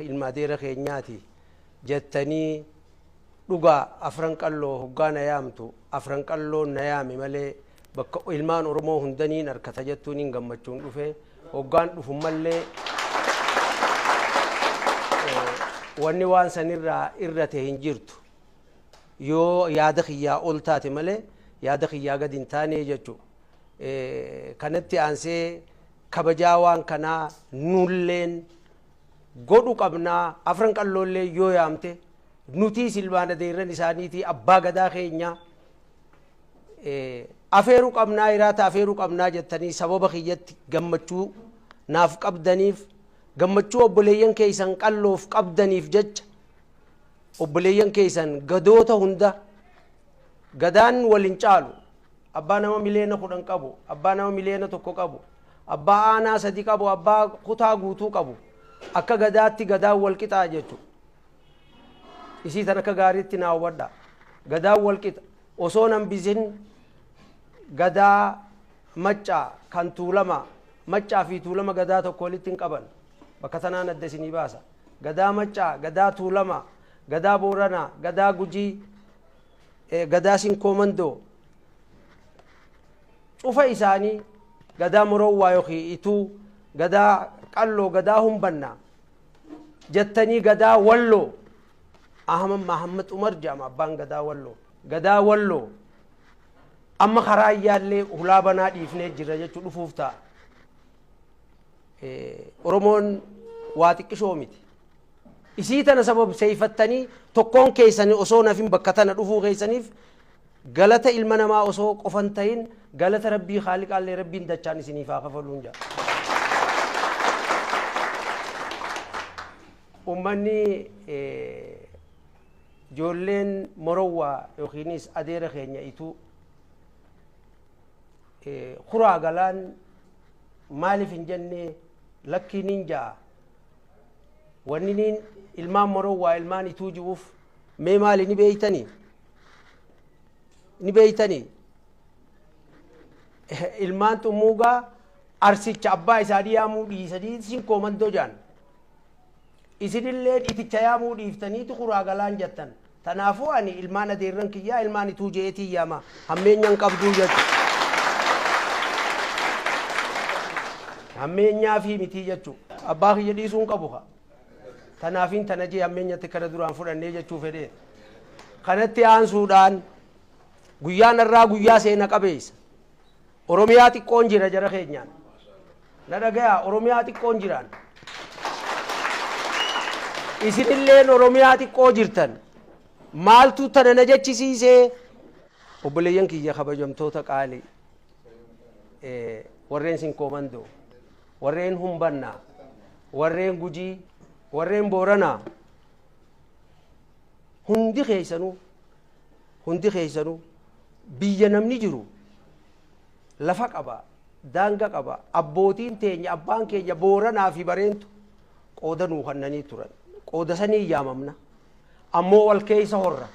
ilma adeera keenyaati jettanii dhugaa afran qalloo hoggaa na yaamtu afran qalloon na yaame malee bakka ilmaan oromoo hundaniin harkata jettuun hin gammachuun dhufe hoggaan dhufu mallee wanni waan sanirraa irra ta'e hin jirtu yoo yaada kiyyaa ol taate malee yaada kiyyaa gadi hin taane jechuudha kanatti aansee kabajaa waan kanaa nulleen godhu qabnaa afran qalloollee yoo yaamte nutiis ilmaan adeerran isaaniitii abbaa gadaa keenya afeeru qabnaa hiraata afeeru qabnaa jettanii sababa kiyyatti gammachuu naaf qabdaniif gammachuu obboleeyyan keeysan qalloof qabdaniif jecha obboleeyyan keeysan gadoota hunda Gadaan wal hin caalu. Abbaa nama miliyoona 10 qabu, abbaa nama miliyoona 1 qabu, abbaa aanaa 3 qabu, abbaa kutaa guutuu qabu akka Gadaatti Gadaan wal qixaa jechu. Isii tan akka gaariitti naa hubadha. Gadaan wal qixa. Osoon hambisin Gadaa Maccaa kan Tuulamaa, Maccaa fi Tuulama Gadaa tokko walitti hin qaban. Bakka tanaan adda isinii baasa. Gadaa Maccaa, Gadaa Tuulamaa, Gadaa Booranaa, Gadaa Gujii, Gadaa Sinkoo Mandoo cufa isaanii Gadaa Morowwaa yookiin Ituu, Gadaa Qalloo, Gadaa Humbannaa jettanii Gadaa Walloo Ahmad Mahammad Umar jedhama abbaan Gadaa Walloo. Gadaa Walloo amma karaa iyyaallee hulaa banaa dhiifnee jirra jechuu dhufuuf ta'a. Oromoon waa xiqqishoo miti. Isii tana sababseyfattanii tokkoon keeysani osoo nafin bakka tana dhufuu keeysaniif galata ilma namaa osoo qofa hin tahin galata Rabbii khaaliqaallee Rabbiin dachaan isiniif haa kafaluun ja'a. Ummanni ijoolleen Morowwaa yookiinis adeera keenya Ituu kuraa galaan maaliif hin jenne lakkii nin ja'a Wanniniin ilmaan maroo waa ilmaan ituu ji'uuf mee maali ni beeytani? Ni beeytani? Ilmaan xummuugaa arsicha abbaa isaanii yaamuu dhiisanii isin koomandoo jaan. Isinilleen iticha yaamuu dhiiftaniitu kuraa galaan jattan. Tanaafuu ani ilmaan adeerran kiyyaa ilmaan ituu je'eetiin yaama, hammeenya hin qabduu jechu. Hammeenyaafii mitii jechu. Abbaa kiyya dhiisuu hin qabu kaa. Tanaafiin tana je'e hammeenyatti kana duraa hin fudhannee jechuu fedhee. Kanatti aansuudhaan guyyaan har'aa guyyaa seena qabeessa. Oromiyaa xiqqoon jira jara keenyaan. Na dhagayaa Oromiyaa xiqqoon jiraan. Isinilleen Oromiyaa xiqqoo jirtan. Maaltu tana na jechisiisee? Obboleeyyan kiyya kabajamtoota qaalii. Warreen sin koomandoo. Warreen humbannaa. Warreen gujii. Warreen booranaa. Hundi keessanuu. Hundi keessanuu. Biyya namni jiru lafa qaba, daanga qaba. Abbootiin teenya, abbaan keenya Booranaa fi Bareentu qooda nuu kannanii turan. Qooda saniin yaamamna. Ammoo wal keessa horra.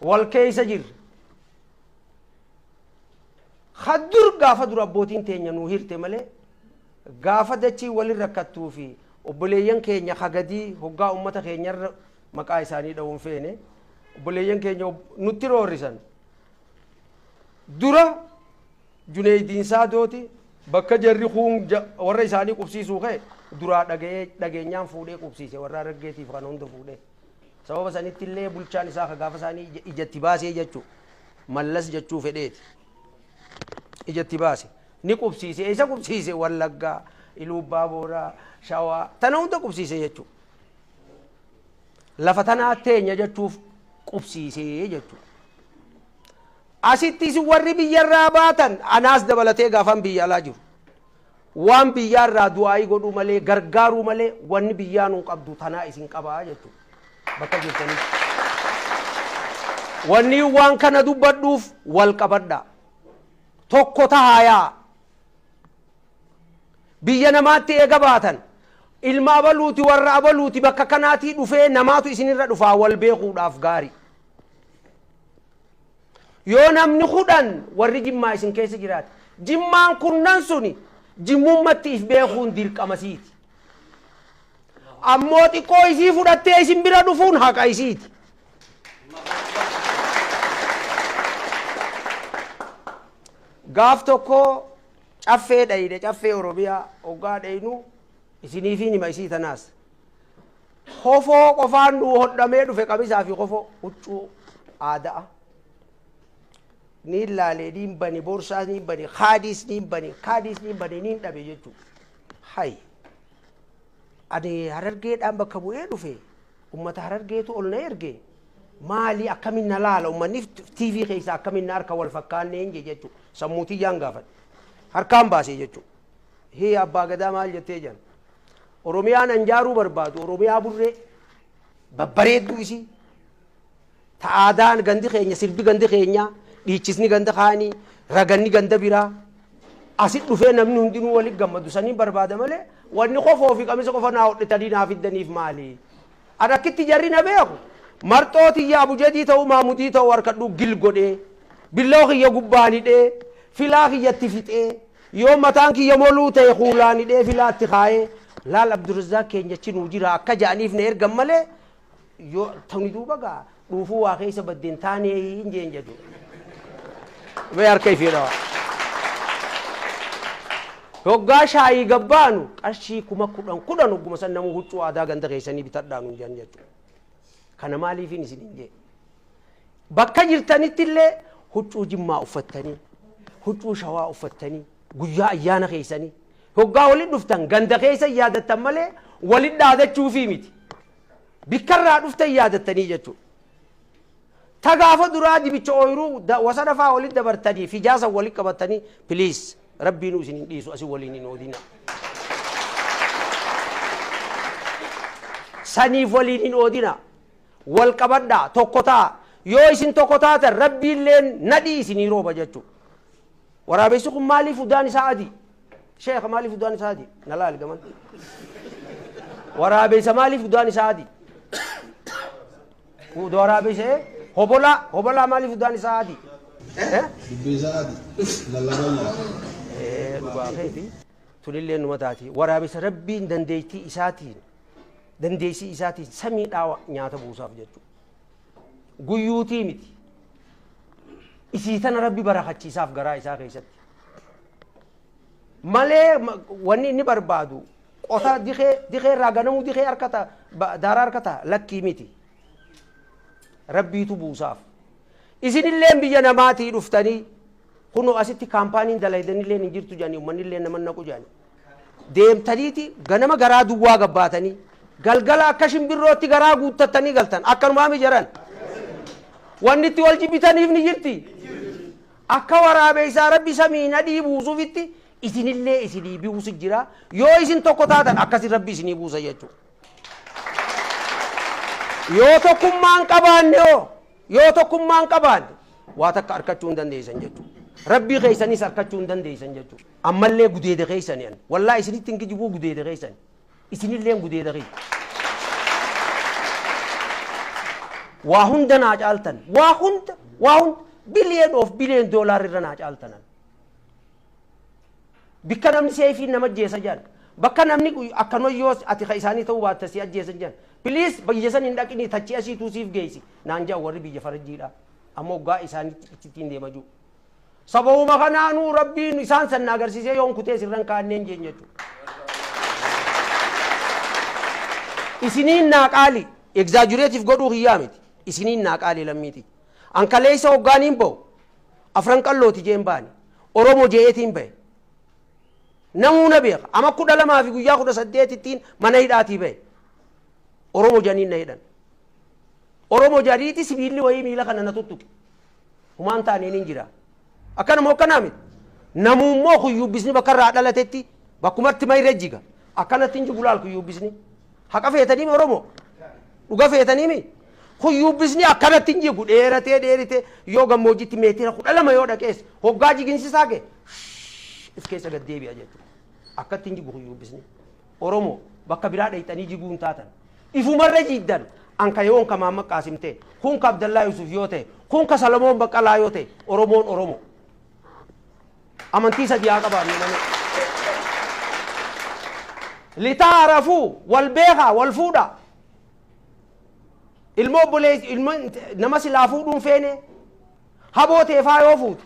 Wal keessa jirra. Ka dur gaafa dura abbootiin teenya nuu hirte malee gaafa dachiin walin rakkattuu fi obboleeyyan keenya ka gadii hoggaa ummata keenyarra maqaa isaanii dha'uun feene obboleeyyan keenya nutti roorrisan dura juneeydiin saadooti bakka jarri kuun warra isaanii qubsiisuu ka'e duraa dhaga'ee dhageenyaan fuudhee qubsiise warra argeetiif kan hunda fuudhee sababa sanitti illee bulchaan isaa ka gaafa isaanii ijatti baasee jechuu mallas jechuu fedheeti ijatti baase ni qubsiise isa qubsiise wallaggaa iluubbaa booraa shawaa tana hunda qubsiise jechuu lafa tanaa teenya jechuuf qubsiisee jechuudha. Asitti isin warri biyyarraa baatan anaas dabalatee gaafan biyya alaa jiru. Waan biyyaarraa du'aayii godhuu malee gargaaruu malee wanni biyyaa nuu qabdu tanaa isin qabaa jechuudha. Bakka jirtanii. Wanni waan kana dubbadhuuf wal qabadhaa. Tokko tahaayaa. Biyya namaatti eega baatan ilma abaluuti warra abaluuti bakka kanaatii dhufee namaatu isinirra dhufaa wal beekuudhaaf gaarii. Yoo namni kudhan warri jimmaa isin keessa jiraate jimmaan kunnan suni jimmummatti if beekuun dirqama isiiti. Ammoo xiqqoo isii fudhattee isin bira dhufuun haqa isiiti. Gaaf tokkoo Caffee dhayne caffee oromiyaa hoggaa dhaynuu isiniifiin hima isii tanaas kofoo qofaan nuu hodhamee dhufe qamisaa fi kofoo huccuu aada'a niin laalee niin bane borsaas niin bane kaadiis niin bane kaadiis niin bane niin dhabe jechuu hay ani harargeedhaan bakka bu'ee dhufe ummata harargeetu ol na erge Maali akkamiin na laala ummanni TV keessaa akkamiin na harka wal fakkaanneen jee jechuu sammuu tiyyaan gaafadhe. Harkaan baasee jechuu. Hii abbaa gadaa maal jettee jiran. Oromiyaan anjaaruu barbaadu Oromiyaa burree babbareedduu isii ta aadaan gandi keenya sirbi gandi keenyaa dhiichisni ganda kaanii raganni ganda biraa asi dhufee namni hundinuu walitti gammadu saniin barbaada malee wanni kofoo fi qamisa qofa naa hodhitanii naa fiddaniif maali? An akkitti jarri na beeku marxoo tiyya abujedii ta'uu maamudii ta'uu harkadhuu gil godhee billawa kiyya gubbaan hidhee filaa kiyya itti fixee yoo mataan kiyya moluu ta'e kuulaan hidhee filaa itti kaayee laal abdurzaaq keenya achi nuu jira akka ja'aniif na ergan malee yoo tuni duuba gaa dhuufuu waa keessa badde hin taanee hin jeen jedhu. Mee harka ifii dhawa. Hoggaa shaayii gabbaanu qarshii kuma kudhan kudhan hogguma san namuu huccuu aadaa ganda keessanii bitadhaa nuun jedhan jechuudha. Kana maaliifiin isin hin jee? Bakka jirtanitti illee huccuu jimmaa uffattanii, huccuu shawaa uffattanii, guyyaa ayyaana keessanii hoggaa walitti dhuftan ganda keessa yaadattan malee walitti dhaadachuufii miti. Bikka irraa dhufte hin yaadattanii jechuudha. Ta gaafa duraa dibicha ooyiruu da- wasana faa walitti dabartanii fijaa san walitti qabattanii please rabbiinuu isin hin dhiisu asi waliin hin oodinaa. saniif waliin hin oodina wal qabadhaa tokko ta'a yoo isin tokko taatan rabbiilleen nadhii isinii rooba jechuu waraabessi kun maaliif udaan isaa adii Sheekha maaliif udaan isaa adii? Na laali gaman. Waraabeysa maaliif udaan isaa adii? Uda waraabeysa ee? Hobolaa, hobolaa maaliif udaan isaa adii? Eh? Dubbii isaa adi. Lallabaa nyaata. Eh, dhugaa keeti. Tunillee numa taati. Waraabeysa rabbiin dandeettii isaatiin, dandeessii isaatiin samii dhaawa nyaata buusaaf jechuudha. guyyuutii miti. Isii tana rabbi barakachiisaaf garaa isaa keessatti. Malee ma- wanni inni barbaadu qota dikee dikee irraa ganamuu dikee harka ta'a ba- daaraa harka ta'a lakkii miti. Rabbiitu buusaaf. Isinillee biyya namaatii dhuftanii kunoo asitti kaampaaniin dalaydanillee hin jirtu jedhanii ummannillee nama naqu jedhanii. deemtaniiti ganama garaa duwwaa gad baatanii galgala akka shimbirrootti garaa guuttattanii galtan akkanumaami jaran wanni itti wal jibbitaniif ni jirti akka waraabeessaa rabbi samii nadhii buusuufitti isinillee isinii buusu jira yoo isin tokko taatan akkasi rabbi isinii buusa jechuudha. yoo tokkummaan qabaanne hoo yoo tokkummaan qabaanne waa takka arkachuu hin dandeessan jechuudha. Rabbii keessanis arkachuu hin dandeessan jechuudha. Ammallee gudeeda keessani an. Wallahi isinitti hin kijibuu gudeeda keessani. Isinilleen gudeeda kiyya. Waa hunda naa caaltan. Waa hunda, waa hunda. Billion of billion dollar irra naa caaltan an. Bikka namni seefiin nama ajjeesa jedhan. Bakka namni akka noyyoo ati ka isaanii ta'uu baatte si ajjeesan jedhan. Please biyya san hin dhaqinii tachii asiituu siif geessi. Naan jedhan warri biyya farajjiidhaa. Amma hoggaa isaanitti ittiin deema jiru. Sababuma kanaanuu Rabbiin isaan san na agarsiisee yoon kutee sirra hin kaa'anneen jeen jechuu. Isiniin naa qaali, exaggerate godhuu kiyyaa miti. Isiniin naa qaali lammiiti. An kaleessa hoggaaniin bahu afran qallooti jeen baane. Oromo je'eetiin bahe. Namuu na beeka. Ama kudha lamaa fi guyyaa kudha saddeetittiin mana hidhaatii bahe. Oromo janiin na hidhan. Oromo jariiti sibiilli wayii miila kana na tuttuqe. Homaa hin taane nin jira. Akkana moo akkana miti? Namuu immoo kuyyuubbisni bakka irraa dhalatetti bakkumatti ma irra jiga. Akkanatti hin jigu laal kuyyuubbisni. Haqa feetanii mi Oromoo? Dhuga feetanii mi? Kuyyuubbisni akkanatti hin jigu dheeratee dheeritee yoo gammoojjitti meetira kudha lama yoo dhaqees hoggaa jiginsisaa kee shh if keessa gad deebi'a jechuudha. Akkatti hin jigu kuyyuubbisni. Oromo bakka biraa dhayxanii jiguu hin taatan. Ifumarra jiiddan. An ka yoon ka Mahammad Qaasim ta'e, kun ka Abdallaa Yuusuf yoo ta'e, kun ka Salamoon Baqqalaa yoo ta'e, Oromoon Oromo. Amantii sadii haa qabaannu malee. Litaa rafuu, wal beekaa, wal fuudhaa. Ilma obboleessi, ilma nama silaa fuudhuun feene, Haboo tee faa yoo fuutu.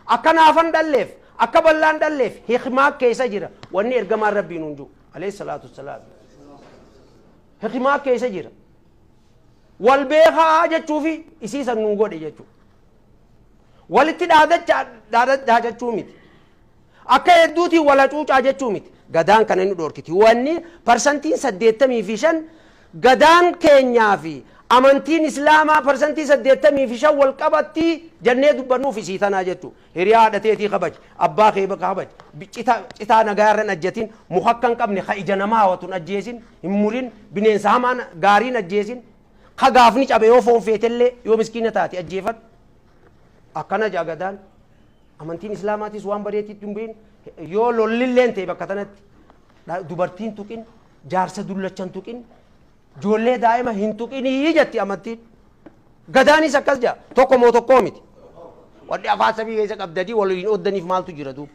Akka naafan dhalleef, akka ballaan dhalleef hikmaa keessa jira wanni ergamaan Rabbii nuun jiru. Alayhi salaatu wassalaam. Hikmaa keessa jira. Wal beekaa jechuufi isii san nuu godhe jechuudha. Walitti dhaadacha dhaada- dhaadachuu miti. Akka hedduutiin wal hacuucaa jechuu miti. Gadaan kana ni dhorkiti. Wanni parsantiin 85 Gadaan keenyaa fi amantiin Islaamaa parsantii 85 wal qabatti jennee dubbannuuf isii tanaa jechuu. Hiriyaa haadha teetii kabaji. Abbaa kee kabaji. Cita, citaa nagaa irra hin ajjatin. Muka akka hin qabne ka ija namaa hawatu hin ajjeesin, hin murin. Bineensa hamaa gaarii hin ajjeesin. Ka gaafni cabe yoo foon feetellee yoo miskiina taate ajjeefadhu. Akkana jaa Gadaan. Amantiin Islaamaatis waan badeetti itti hin bu'in. Yoo lollilleen ta'e bakka tanatti dha- dubartiin tuqin, jaarsa dullachan tuqin, ijoollee daa'ima hin tuqinii jetti amantiin. Gadaanis akkas jedha. Tokko moo tokkoo miti. Wanni afaan samii keessa qabdanii wal hin oddaniif maaltu jira duuba.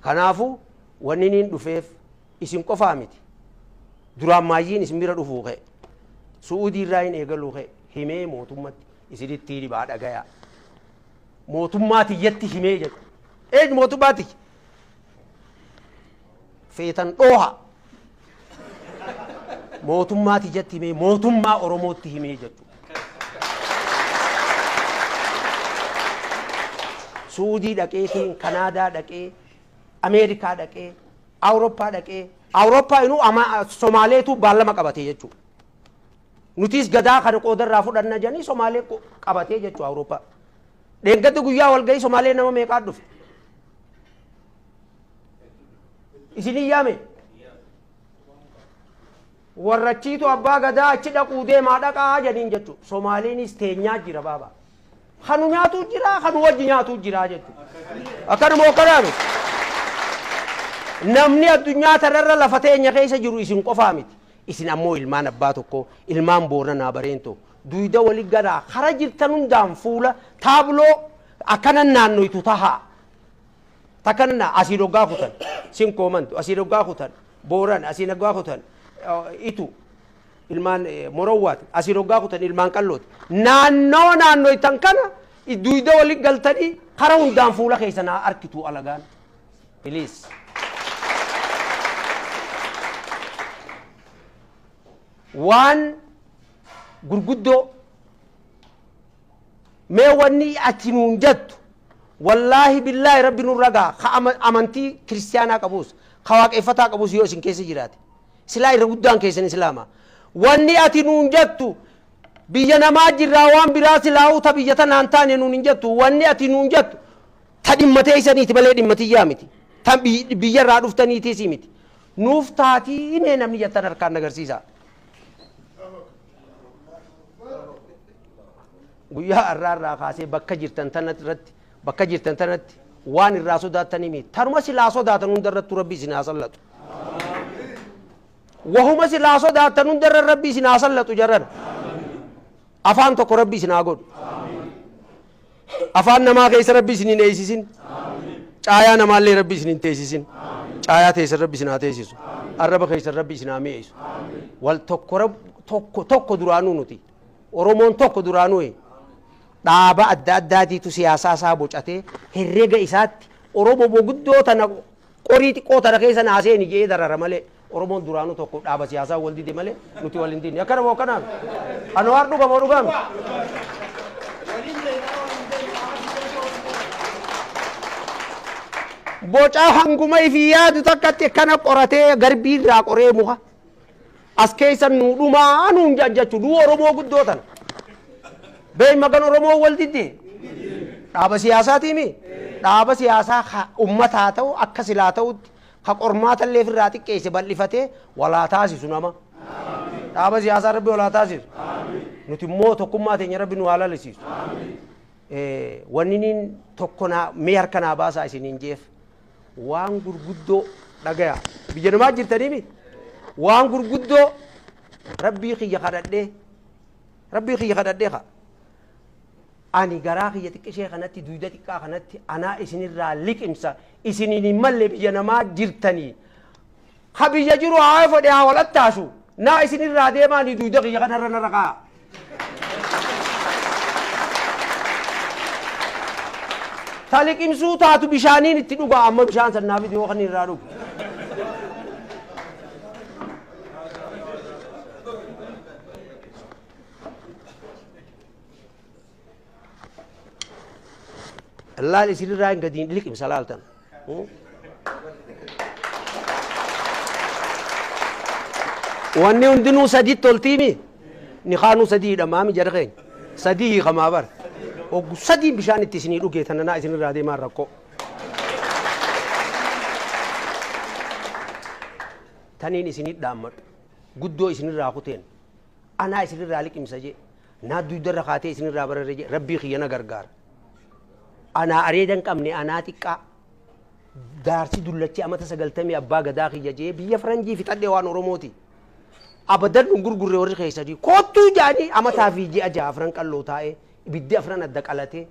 Kanaafuu wanni niin dhufeef isin qofaa miti duraan maayyiin isin bira dhufuu kee su'uudii irraa hin eegaluu kee himee mootummatti isinitti dhibaa dhagayaa mootummaa tiyyatti himee jedhu eeg mootummaa tiyya feetan dhooha mootummaa tiyyatti himee mootummaa oromootti himee jedhu suudii dhaqeetiin kanaadaa dhaqee ameerikaa dhaqee Awuroppaa dhaqee Awuroppaa inuu amaa Somaaleetuu baallama qabatee jechuu nutiis gadaa kana qooda irraa fudhanna jedhanii Somaalee qabatee jechuu Awuroppaa dheengadda guyyaa walgahii Somaalee nama meeqaa dhufe isin hin yaame warrachiitu abbaa gadaa achi dhaquu deemaa dhaqaa jedhaniin jechuu Somaaleeniis teenyaa jira baabaa Kan nu nyaatuu jira, kan nu wajji nyaatuu jira jechuudha. Akkanuma akkanaa miti. Namni addunyaa tanarra lafa teenya keessa jiru isin qofaa miti. Isin ammoo ilmaan abbaa tokkoo, ilmaan Booranaa Bareentoo, duyda wali ganaa kara jirtan hundaan fuula taabloo akkanan naannoytu tahaa. Takka nan asiin hoggaa kutan, sin koomantu, asiin hoggaa kutan, Booran, asiin hoggaa kutan, itu. ilmaan Morowwaati. Asiin hoggaa kutan ilmaan Qallooti. Naannoo naannoytan kana duyda walitti galtanii kara hundaan fuula keessan haa arkitu alagaan. Please. Waan gurguddoo mee wanni ati nuun jettu wallaahi billaahi rabbi nurra gaha ka ama- amantii kiristiyaanaa qabus ka waaqeffataa qabus yoo isin keessa jiraate Silaa irra guddaan keessan Islaama. Wanni ati nuun jettu biyya namaa jirraa waan biraa silaa'uu ta biyya tanaan taane nuun hin jettu. Wanni ati nuun jettu ta dhimma teessaniiti malee dhimma tiyyaa miti. Tan biy- biyyarraa dhuftaniitiisii miti. Nuuf taatii himee namni jettan harkaan nagarsiisa. Guyyaa har'aarraa kaasee bakka jirtan tana irratti Bakka jirtan tanatti waan irraa sodaattanii miti. Tanuma silaa sodaatan hunda irrattuu Rabbi isin haa sallatu. Wahuma silaa sodaatan hunda irra Rabbi isin haa sallatu jarrana. Afaan tokko Rabbi isin haa godhu. Afaan namaa keessa Rabbi isin hin eeysisin. Caayaa namaallee Rabbi isin hin teessisin. Caayaa teessan Rabbi isin haa teessisu. Arraba keessan Rabbi isin haa mi'eessu. Wal tokko Rab- tokko tokko duraanuu nuti. Oromoon tokko duraanuu. dhaaba adda addaatiitu siyaasaa isaa bocatee herrega isaatti Oromo boguddoo tana qorii xiqqoo tana keessa naa seeni jedhee darara malee Oromoon duraanuu tokko dhaaba siyaasaa wal dide malee nuti wal hin dinne akkana moo akkanaa miti Anwaar dhuga moo dhugaa miti bocaa hanguma ifii yaadu takkatti akkana qoratee garbii irraa qoree muka As keessan nuu dhumaa nuun jajjachu duu Oromoo guddoo tana. Bey magan Oromoo wal diddi? Dhaaba siyaasaatii mi? Dhaaba siyaasaa ka ummataa ta'u akka silaa ta'utti ka qormaata illee ofirraa xiqqeesse bal'ifatee walaa taasisu nama. Dhaaba siyaasaa rabbi walaa taasisu. Nuti immoo tokkummaa teenya rabbi nu haa lalisiisu. Eh, Wanni niin tokko naa mee harka naa baasaa isiniin jeef. waan gurguddoo dhagaya biyya namaa jirtaniimi waan gurguddoo rabbii kiyya kadhadhee rabbii kiyya kadhadhee ka ani garaa kiyya xiqqishee kanatti duyda xiqqaa kanatti anaa isinirraa liqimsa isiniin hin malle biyya namaa jirtanii Ha biyya jiru haa efodhe haa wal attaasu. Naa isin irraa deemaa ni duyda kiyya kana irra narra kaa'a. Ta liqimsuu taatu bishaaniin itti dhugaa amma bishaan san naa fidi yoo kan irraa dhugu. Laal isinirraa hin gadiin liqimsa laaltan. Wanni hundinuu sadiitti oltiimi. Nikaanuu sadii hidhamaami jara keenya. Sadii hiikamaa bara. Oggu sadiin bishaan itti isinii dhugee tananaa isinirraa deemaan rakkoo. Taniin isinii dhaammadhu. Guddoo isinirraa kuteen. Anaa isinirraa liqimsa jee. Naa duydarra kaatee isinirraa bararre jee rabbii kiyya na gargaar. Anaa areeda hin qabne anaa xiqqaa. Jaarsi dullachi amata sagaltamii abbaa gadaa kiyya jee biyya faranjii fixadhe waan oromooti. Abadan nun gurgurre warri keessanii koottuu jaanii amataa fi ji'a jaha afran qalloo taa'ee ibiddi afran adda qalatee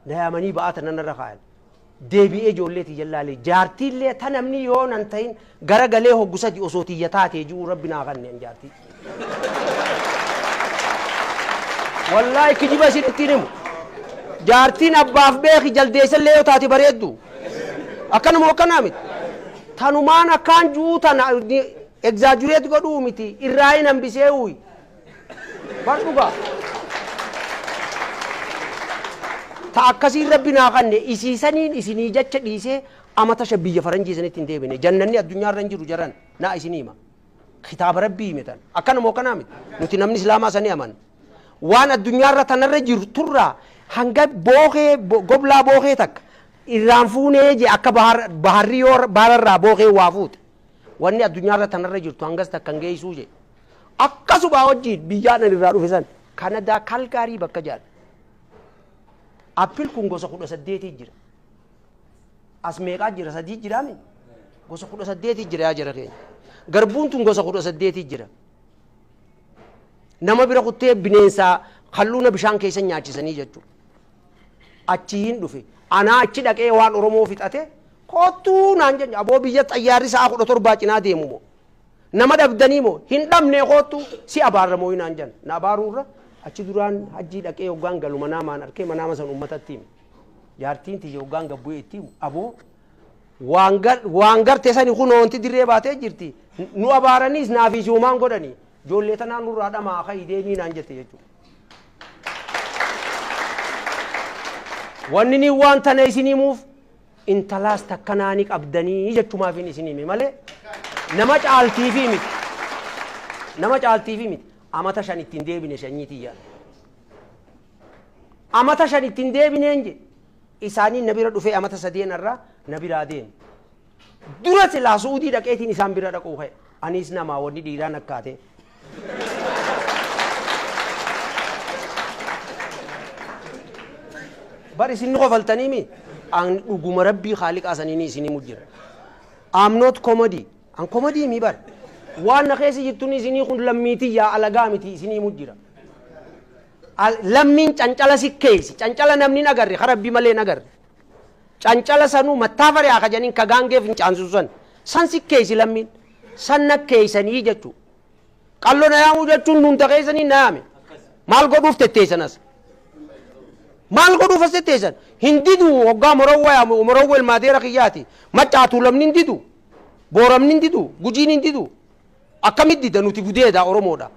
Na yaamanii ba'aa tana narra kaayan. Deebi'ee ijoollee tiyyan laalee jaartiillee ta namni yoo nan tahin gara galee hoggu sadi osoo tiyya taatee ji'uu rabbi naa kanne an jaartii. Wallaahi kijiba isin ittiin himu. Jaartiin abbaaf beeki jaldeessallee yoo taate bareeddu. Akkanuma akkanaa miti. Tanumaan akkaan ju'uu tana egzaajureet godhuu miti irraa hin hambisee uuyi. Bar dhugaa. Ta akkasiin rabbi naa kanne isii saniin isinii jacha dhiisee ama tasha biyya faranjii isinitti hin deebine jannanni addunyaa irra hin jiru jaran naa isinii hima. Kitaaba rabbii hime tan akkana moo kanaa miti nuti namni islaamaa sanii amanna. Waan addunyaa irra tanarra jiru turraa hanga bookee bo- goblaa bookee takka irraan fuunee je akka bahar baharri yoo bahararraa bookee waa fuute wanni addunyaa irra tanarra jirtu hangas takka hin geessuu je. Akkasumaa wajjiin biyyaan ani irraa dhufe san Kanadaa Kalgaarii bakka jedhan. Appil kun gosa kudha saddeetii jira. As meeqaa jira sadii jiraami? Gosa kudha saddeetii jira yaa jara keenya. Garbuun tun gosa kudha saddeetii jira. Nama bira kuttee bineensaa kalluuna bishaan keessa nyaachisanii jechuudha. Achi hin dhufe. Anaa achi dhaqee waan Oromoo fixate koottuu naan jenye aboo biyya xayyaarri sa'a kudha torbaa cinaa deemu moo Nama dhabdanii moo? Hin dhabnee koottu si abaarra mooyi naan jedhan. Na abaaruu irra achi duraan hajjii dhaqee hoggaan galu manaamaan arkee manaama san uummatatti hime. Jaartiin tiyya hoggaan gad bu'ee itti himu aboo waan gar- waan garte sani kunoo wanti dirree baatee jirti nu abaaraniis naafii siumaan godhanii ijoollee tanaa nurraa dhamaa ka'i deemii naan jette jechuudha. Wanni ni waan tana isin himuuf intalaas takka naa ni qabdanii jechumaafin isin hime malee nama caaltiifii miti nama caaltiifii miti amata shan ittiin deebine shanyii tiyyaa amata shan ittiin deebineen je isaanii na bira dhufee amata sadeen irraa na biraa deeme dura silaa su'udii dhaqeetiin isaan bira dhaquu ka'e aniis namaa wanni dhiiraan akkaatee bar isin ni kofaltanii mi an dhuguma rabbii kaaliqaa saniini isinii mujjira am not comedy an comedy mi bar waan na keessa jirtun isinii kun lammiitii yaa alagaa miti isinii mujjira Al- lammiin cancala si keeysi cancala namni hin agarre ka rabbii malee hin agarre cancala sanuu mattaafarii haa kajanin ka gaangee fincaansuu san san si keeysi lammiin Sanna keeysanii jechuu. Qallo na yaamuu jechuun nuunta keeysanii na yaame. Maal godhuuf tetteeysan as? Maal godhuuf as tetteeysan? Hin didu hoggaa Morowwa yaamu Morowwa ilmaa deera kiyyaati. Maccaa Tuulamni hin didu. Booramni hin didu. Gujiin hin didu. Akkamit dida nuti gudeeda Oromoodha.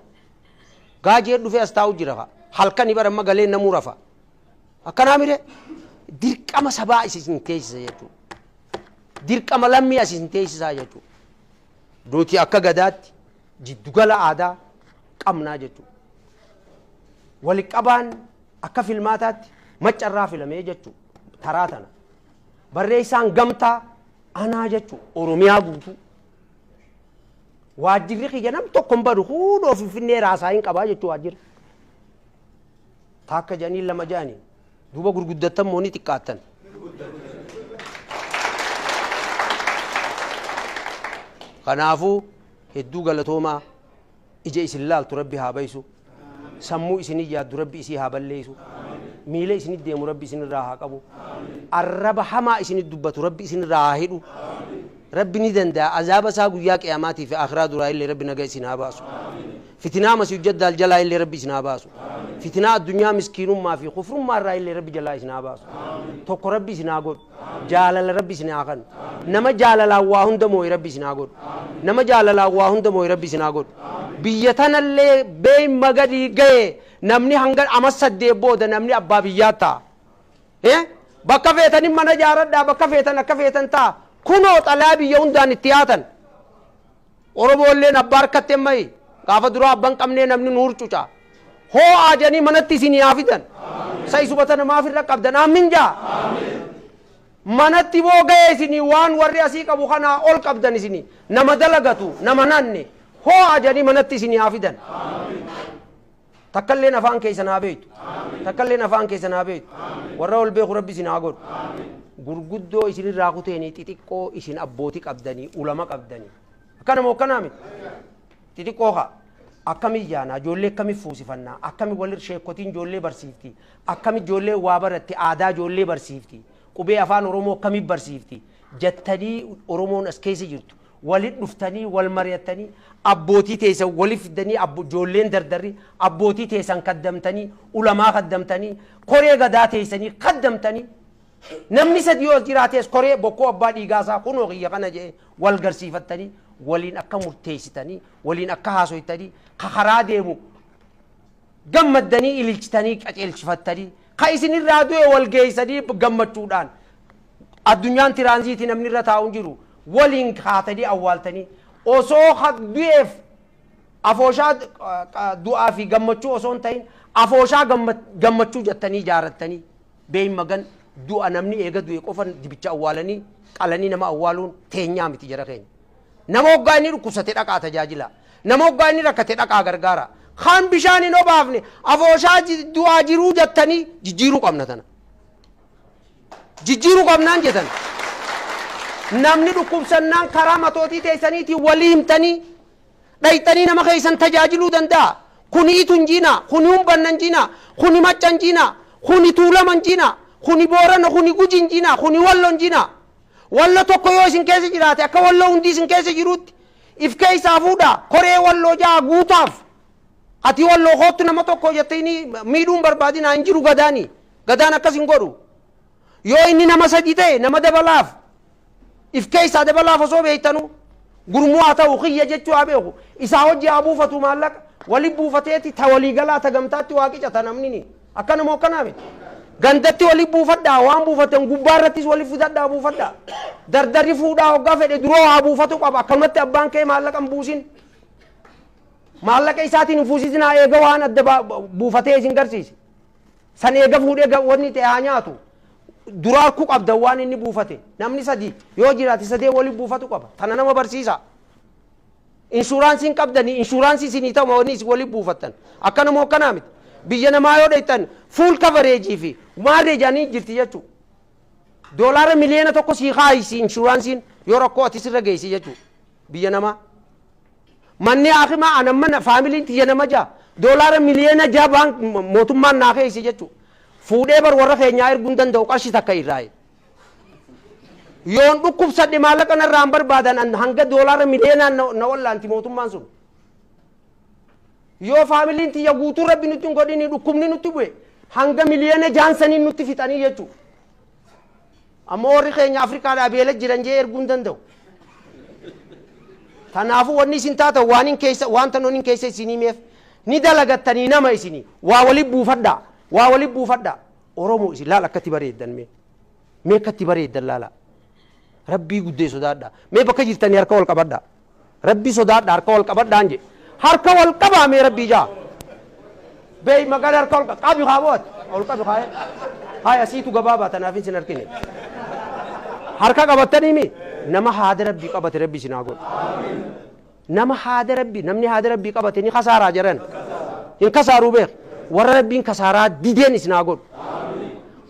Gaajeen dhufee as taa'u jira ka. Halkani bara amma galee namuu rafa. Akkanaa mire dirqama sabaa isin teessisa jechuudha. dirqama lammii as isin teessisaa jechuudha. Nuti akka gadaatti jiddugala aadaa qabnaa jechuudha. Waliqabaan akka filmaataatti maccarraa filamee jechuudha. Taraa tana. Barreessaan gamtaa anaa jechuudha. Oromiyaa guutuu. Waajjirri kiyya nam tokko hin badu hundoo finfinnee raasaa hin qabaa jechuudha waajjirri. Taakka jedhanii lama jedhanii. Duuba gurguddattan moo ni xiqqaattan? Kanaafuu hedduu galatoomaa ija isin laaltu rabbi haa bayisu sammuu isinin yaaddu rabbi isii haa balleessu miila isinit deemu rabbi isinirraa haa qabu arraba hamaa isinit dubbatu rabbi isinirraa haa hidhu rabbi ni danda'a azaaba isaa guyyaa qiyamaatii fi akhiraa duraa illee rabbi naga isin haa baasu Fitinaa Masiihu Jaddaal jalaa illee Rabbi isin haa baasu. Fitinaa addunyaa miskiinummaa fi kufrummaa irraa illee Rabbi jalaa isin haa baasu. Tokko Rabbi isin haa godhu. Jaalala Rabbi isin haa kannu. Nama jaalalaan waa hunda mooye Rabbi isin haa godhu. Nama jaalalaan waa hunda mooye Rabbi isin haa godhu. Biyya tana illee beeyma gadii gaye namni hanga ama saddeet booda namni abbaa biyyaa ta'a. He? Bakka feetanin mana jaaradhaa, bakka feetan akka feetan ta'a. Kunoo xalayaa biyya hundaan itti yaatan. Oromoolleen abbaa harkatti hin mayi. Gaafa duraa abba hin qabnee namni nu hurcuca. Hoo'aa jedhanii manatti isinii haa fidan. Sa isuma tana maaf irra qabdan? Aammin jaa. Manatti boo ga'e isinii waan warri asii qabu kanaa ol qabdan isinii. Nama dalagatu, nama hin hanne. Hoo'aa jedhanii manatti isinii haa fidan. Takkalleen afaan keessan haa beektu. Takkalleen afaan keessan haa beektu. Warra ol beeku rabbi isin haa godhu. Gurguddoo isinirraa kuteenii xixiqqoo isin abbooti qabdanii ulama qabdanii. Akkana moo akkanaa miti? Xixiqqoo kaa. Akkami ijaanaa ijoollee akkami fuusifannaa akkami wal sheekotiin ijoollee barsiifti akkami ijoollee waa baratti aadaa ijoollee barsiifti qubee afaan oromoo akkami barsiifti jattanii oromoon as keessa jirtu Walit dhuftanii wal mari'attanii abbootii teeysan walit fiddanii abbo joolleen dardarri abbootii teeysan kaddamtanii ulamaa kaddamtanii koree gadaa teeysanii kaddamtanii namni sadii yoo as jiraatees koree bokkuu abbaa dhiigaa isaa kunoo kiyya kana je'ee wal garsiifattanii waliin akka murteeysitanii waliin akka haasoytanii ka karaa deemu gammaddanii ililchitanii qaceelchifattanii ka isin irraa du'e wal geeysanii gammachuudhaan addunyaan tiraanziitii namni irra taa'u hin jiru waliin kaatanii awwaaltanii osoo ka du'eef afooshaa du'aa fi gammachuu osoo hin ta'in afooshaa gammachuu jettanii ijaarattanii beeyin magan du'a namni eega du'e qofa dibicha awwaalanii qalanii nama awwaaluun teenyaa miti jara keenya. Nama hoggaa inni dhukkubsate dhaqaa tajaajilaa. Nama hoggaa inni rakkate dhaqaa gargaaraa. Kan bishaan hin obaafne afooshaa du'aa jiruu jattanii jijjiiruu qabna tana. Jijjiiruu qabnaan jetan. Namni dhukkubsannaan karaa matootii teessaniitiin walii himtanii dhayxanii nama keessan tajaajiluu danda'a. Kuni itu hin jiinaa, kuni humbanna hin jiinaa, kuni macca hin jiinaa, kuni tuulama hin jiinaa, kuni boorana, kuni guji hin jiinaa, kuni wallo hin jiinaa. Wallo tokko yoo isin keessa jiraate akka walloo hundii isin keessa jiruutti if keessaa fuudhaa koree walloo ja'a guutaaf ati walloo koottu nama tokko jettee inni miidhuun barbaadinaa hin jiru gadaani gadaan akkas hin godhu yoo inni nama sadii ta'e nama dabalaaf if keessaa dabalaaf osoo beektanu gurmuu haa ta'u kiyya jechuu haa beeku isaa hojii haa buufatu maallaqa wali buufateeti ta walii galaa ta gamtaatti waa qicata namnini. Akkana moo akkanaa miti? Gandatti wali buufadhaa, waan buufattan gubbaa irrattis wali fidadhaa buufadhaa. Dardarri fuudhaa hoggaa fedhe duroo haa buufatu qaba. Akkanumatti abbaan kee maallaqa hin buusin. Maallaqa isaatiin hin fuusisinaa eega waan adda ba- ba- buufatee isin garsiise. San eega fuudhee ga- wanni ta'e haa nyaatu. Dura harkuu qabda waan inni buufate. Namni sadii yoo jiraate sadee wali buufatu qaba. Tana nama barsiisa. Inshuraansiin qabdanii inshuraansii isinii ta'uma wanni isin wali buufattan. Akkana moo akkanaa miti. Biyya namaa yoo dhayxan full coverage fi maarree jedhanii jirti jechuu. Doolaara miliyoona tokko sii kaayisi inshuraansiin yoo rakkoo ati sirra geessi jechuu. Biyya namaa. Manni haakimaa anan mana faamiliin tiyya nama jaha. Doolaara miliyoona jaha baan mootummaan naa keeyse jechuu. Fuudhee bar warra keenyaa erguu hin danda'u qarshi takka irraayi. Yoon dhukkubsadhe maallaqa narraa hin barbaadan an hanga doolaara miliyoonaan na- na wallaanti mootummaan sun. Yoo faamiliin tiyya guutuu rabbi nutti hin godhini dhukkubni nutti bu'e hanga miliyoona jaansaniin nutti fixanii jechuudha. Ammoo warri keenya Afrikaadhaa beela jiran jee erguu hin danda'u. Kanaafuu wanni isin taatan waan hin keessa waan tanoon hin keessa isin himeef ni dalagattanii nama isinii waa wali buufadhaa waa wali buufadhaa. Oromo isin laal akkatti bareeddan mee mee akkatti bareeddan laalaa rabbii guddee sodaadhaa mee bakka jirtanii harka wal qabadhaa rabbii sodaadhaa harka wal qabadhaan jee harka wal qabaa mee rabbii jaa beey magala harka wal qa- qabi haa bo'at wal qabi haa haa asiitu gabaabaa tanaaf isin harkine harka qabattanii mi nama haada rabbii qabate rabbii isin haa godhu Nama haada Rabbii, namni haada Rabbii qabate ni kasaaraa jedhan? Hin kasaaruu beeki. Warra Rabbiin kasaaraa dideen isin haa godhu.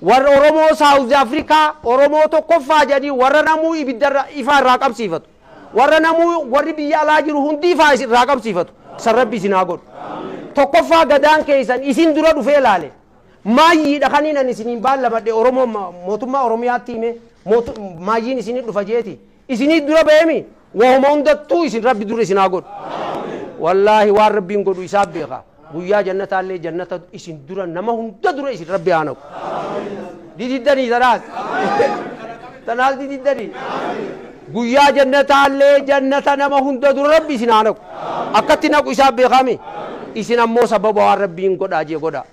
Warra Oromoo Saawuzi Afrikaa, Oromoo tokkoffaa jedhanii warra namuu ibiddarra ifaa irraa qabsiifatu. Warra namuu warri biyya alaa jiru hundi ifaa isin irraa qabsiifatu. San Rabbi isin haa godhu. Tokkoffaa gadaan keessan isin dura dhufee ilaale. Maayyiidha kan inni isiniin baallamadhe Oromoo ma- mootummaa Oromiyaatti hime mootu- maayyiin isinii dhufa jeeti. Isinii dura ba'eemi Wahuma hundattuu isin rabbi dura isin haa godhu. Wallaahi waan rabbiin godhu isaaf beeka. Guyyaa jannataallee jannata isin dura nama hunda dura isin rabbi haa naqu. Dididdanii tanaas. Tanaas dididdanii. Guyyaa jannataallee jannata nama hunda dura rabbi isin haa naqu. Akkatti naqu isaaf beekaami. Isin ammoo sababa waan rabbiin godhaa jee godhaa.